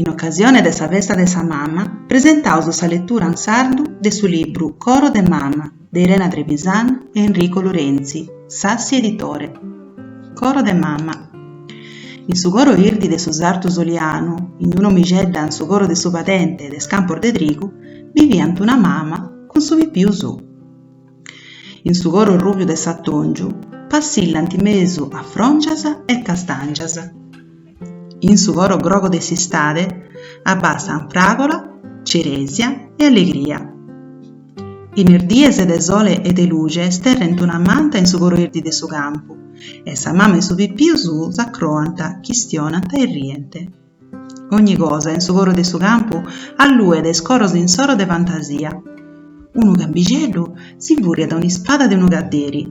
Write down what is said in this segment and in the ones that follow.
In ocasione de sa festa de sa mama presentaus sa letura in sardu de su libru Coro de mama de Irena Trevisan e Enrico Lorenzi, Sassi Editore. Coro de mama. In su coro irdi de su sartu solianu, in d'un'omixedda in su coro de su padente e de is campos de trigu, biviant una mama cun su pipiu suu. In su coro rùbiu de s'atòngiu passillant mesu a fròngias e castàngias. In su coro grogu de s'istade abbassant fràgola, cerèsia e allegria. In is dies de sole e de luxe sterrent una manta in su coro irdi de su campu e sa mama e su pipiu suu s'acroant, chistionant e rient. Ogni cosa in su coro de su campu alluet is coros insoro de fantasia. Unu cambixeddu si fùriat un'ispada de unu caderi,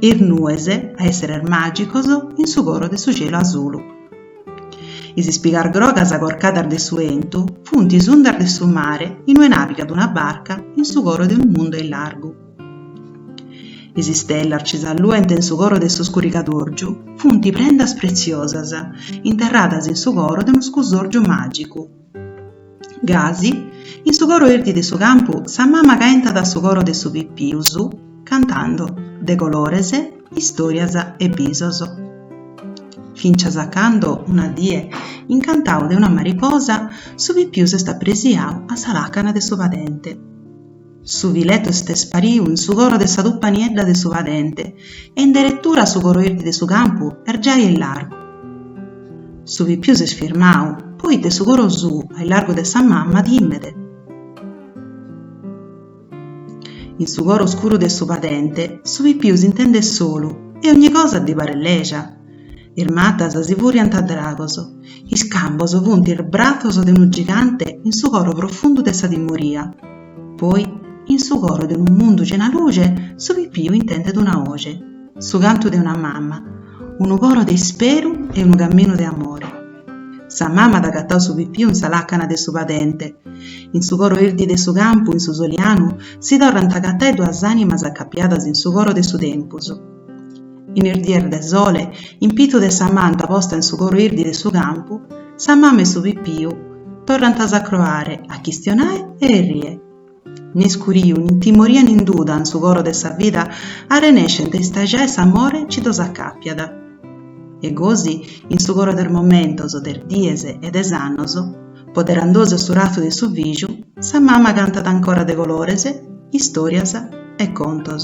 is nues a èsseres màgicos in su coro de su cielu asulu. Is ispigas grogas corcadas de su 'entu funt is undas de su mare in ue navigat una barca in su coro de unu mundu a is largu. Is istellas chi s'alluent in su coro de su scurigadòrgiu funt prendas pretziosas interradas in su coro de unu scusòrgiu màgicu. Gasi, in su coro 'irdi de su campu sa mama caentat su coro de su pipiu suu cantando de colores, istòrias e bisos. Fintzas a cando una die, incantau de una mariposa, su pipiu s'est apresiau a sa làcana de su padente. Su filetu est ispariu in su coro de sa tupa niedda de su padente e in deretura su coro irdi de su campu est giai a is largu. Su pipiu s'est firmau, poite su coro suu a is largu de sa mama timet. In su coro scuru de su padente su pipiu s'intendet solu e ogni cosa ddi paret leja. Is matas si furiant a dragos, is cambos funt is bratzos de unu gigante in su coro profundu de sa timoria. Poi, in su coro de unu mundu cena luce, su pipiu intendet una oxe, su cantu de una mama, unu coro de isperu e unu caminu de amore. Sa mama at agatau su pipiu in sa làcana de su padente. In su coro irdi de su campu, in su solianu, si torrant a agatai duas ànimas acapiadas in su coro de su tempus. in is dies de sole, in pitu de sa manta posta in su coro 'irdi de su campu, sa mama e su pipiu torrant a s'acroare, a chistionai e errie. N'iscuriu, nin timoria nin duda in su coro de sa vida arrenescent a istaxai s'amore chi ddos acàpiat. E gosi, in su coro de is momentos, de is dies e de is annos, Poderandosu a su razu de su fìgiu, sa mama cantat ancora de colores, istòrias e contos.